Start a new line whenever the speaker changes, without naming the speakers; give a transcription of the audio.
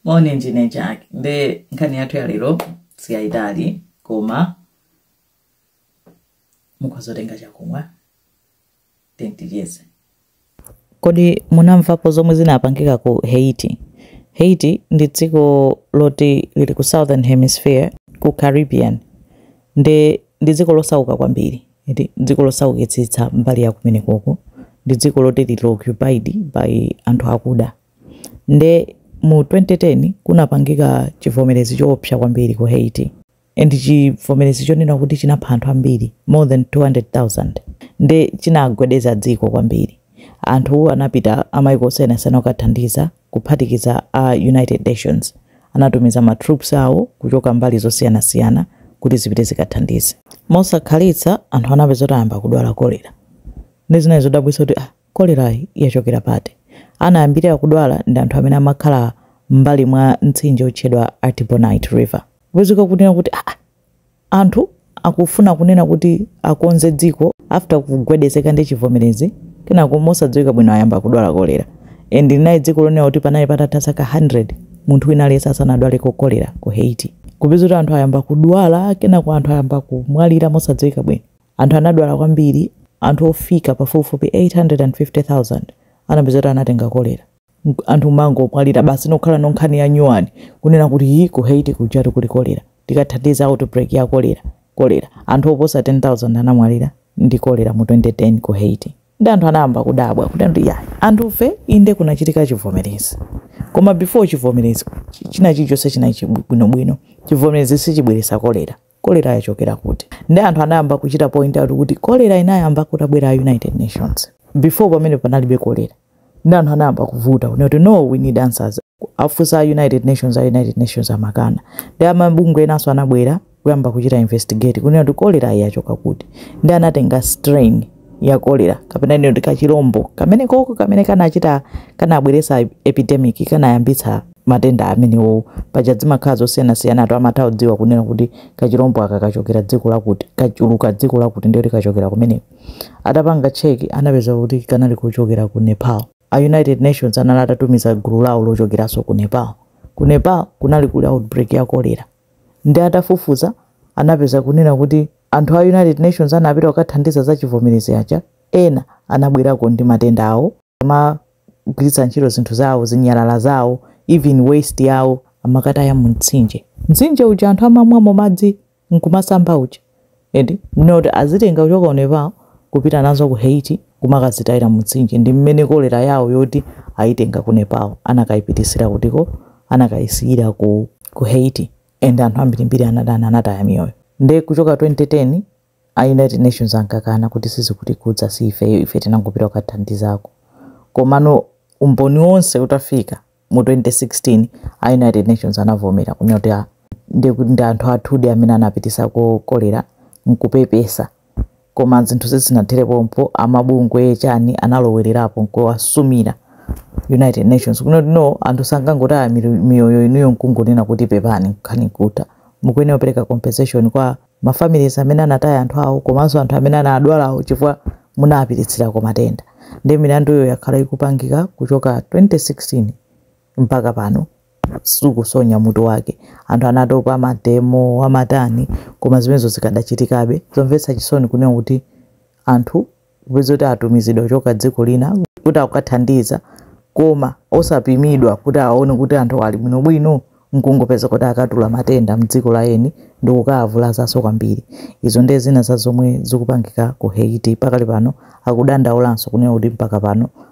moni ndine jack nde nkhani yathu ya lero siyayitali koma mukhoza kutenga chakumwa
ticheze kodi munamvapo zomwe zinapangika ku haiti haiti ndi dziko loti lili ku southern hemisphere ku caribbean ndi ndi dziko losauka kwambiri Eti dziko losaukitsitsa mbali ya kumenekoko ndi dziko loti lili occupied by anthu akuda. Nde mu 2010 kunapangika chivomerezi choopsa kwambiri ku Haiti and chivomerezi chonena kuti chinapha anthu ambiri more than 200,000 nde chinagwedeza dziko kwambiri. Anthu anapita amaiko osiyanasiyana kukathandiza. kuphatikiza a United Nations, anatumiza ma troops awo kuchoka mbali zosiyanasiyana kuti zipite zikathandize. Mosakhalitsa anthu anapeza kuti ayamba kudwala kolera. Nde zinali zodabwitsa kuti ah, kolerayi yachokera pati? Anayambira kudwala ndi anthu amene amakhala m'mbali mwa mtsinje otchedwa Artibonite River. Kupezeka kunena kuti ah, ah, Anthu akufuna kunena kuti akonze dziko after kugwedezeka ndi chivomerezi kenako mosadziwika bwino ayamba kudwala kolera and linali dziko lonena kuti panali patatha zaka 100 munthu wina aliyense asanadwaleko kolera ku Haiti kupeza kuti anthu ayamba kudwala kenako anthu ayamba kumwalira mosadziwika bwino anthu anadwala kwambiri anthu ofika pafupifupi 850,000 anapeza kuti anatenga kolera Mk- anthu amangomwalira basi nokhala no nkhani ya nyuwani kunena kuti hi ku haiti kujatu kuli kolera tikathandize outbreak ya kolera kolera anthu oposa 10000 anamwalira ndi kolera mu 2010 ku haiti ndi anthu anayamba kudabwa kuti ndi yayi anthufe inde kunachitika chivomerezi koma before chivomerezi chi- china chilichonse chinali chibwinobwino chivomerezi sichibweresa kolera kolera yachokera kuti ndi anthu anayamba kuchita point out kuti kolera inayamba kutabwera a united nations before pamene panalibe kolera ndi anthu anayamba kuvuta kunena kuti no we need answers afunsa a united nations a united nations amakana ndi mabungwe enanso anabwera kuyamba kuchita investigate kunena kuti kolera yachoka kuti ndi anatenga strain ya kolera kapena tinene kuti kachilombo kamenekoko kamene kanachita kanabweretsa epidemic kanayambitsa matenda amenewowo paja zimakhala zosiyanasiyana anthu amatha kudziwa kunena kuti kachilombo aka kachokera dziko lakuti kachuluka dziko lakuti ndiye kuti kachokera kumeneko atapanga cheki anapeza kuti kanali kuchokera ku nepal a united nations anali atatumiza gulu lawo lochokeranso ku nepal ku nepal kunali kuli outbreak ya kolera ndi atafufuza anapeza kunena kuti Anthu a United Nations anapita kukathandiza za chivomerezi chija, ena anabwerako ndi matenda awo, amagwiritsa ntchito zinthu zawo, zinyalala zawo, even waste yawo, amakataya mu mtsinje, mtsinje uja anthu amamwamo madzi nkumasamba uja, and not azitenga kuchoka ku Nepal kupita nazo ku Haiti kumakazitayira mu mtsinje, ndi mmene kolera yawo yoti ayitenga ku Nepal anakayipitisira kutiko, anakayisiyira ku, ku Haiti. and anthu ambirimbiri anada- anataya miyoyo nde kuchoka 2010 a united nations ankakana kuti "sizikutikhudza si ifeyo ife tinangopita kukathandizako." Komano umboni wonse utafika mu 2016 a united nations anavomera kunena kuti "Ah, ndi ndi anthu athudi amene anapitisako kolera " nkupepesa koma zinthu sizinathere pompo amabungwe chani analowelerapo nkuwasumira united nations kunena kuti no anthu sangangotaya miro- miyoyo inuyo nkungonena kuti pepani nkhani nkutha mukuyenera kupereka compensation kwa mafamilies amene anataya anthu awo komanso anthu amene anadwalawo chifukwa munapititsirako matenda ndi milanduyo yakhala ikupangika kuchoka 2016 mpaka pano sikusonya mutu wake anthu anatopa amademo amatani koma zimenezo zikadachitikabe zomvetsa chisoni kunena kuti anthu kupeza kuti atumizidwa kuchoka dziko lina kuti akukathandiza koma osapimidwa kuti aone kuti anthu ali bwinobwino nkungopezeka kuti akatuula matenda mdziko la eni ndi kukawavulazanso kwambiri izo ndiye zina za zomwe zikupangika ku haiti pakali pano akudandaulanso kunena kuti mpaka pano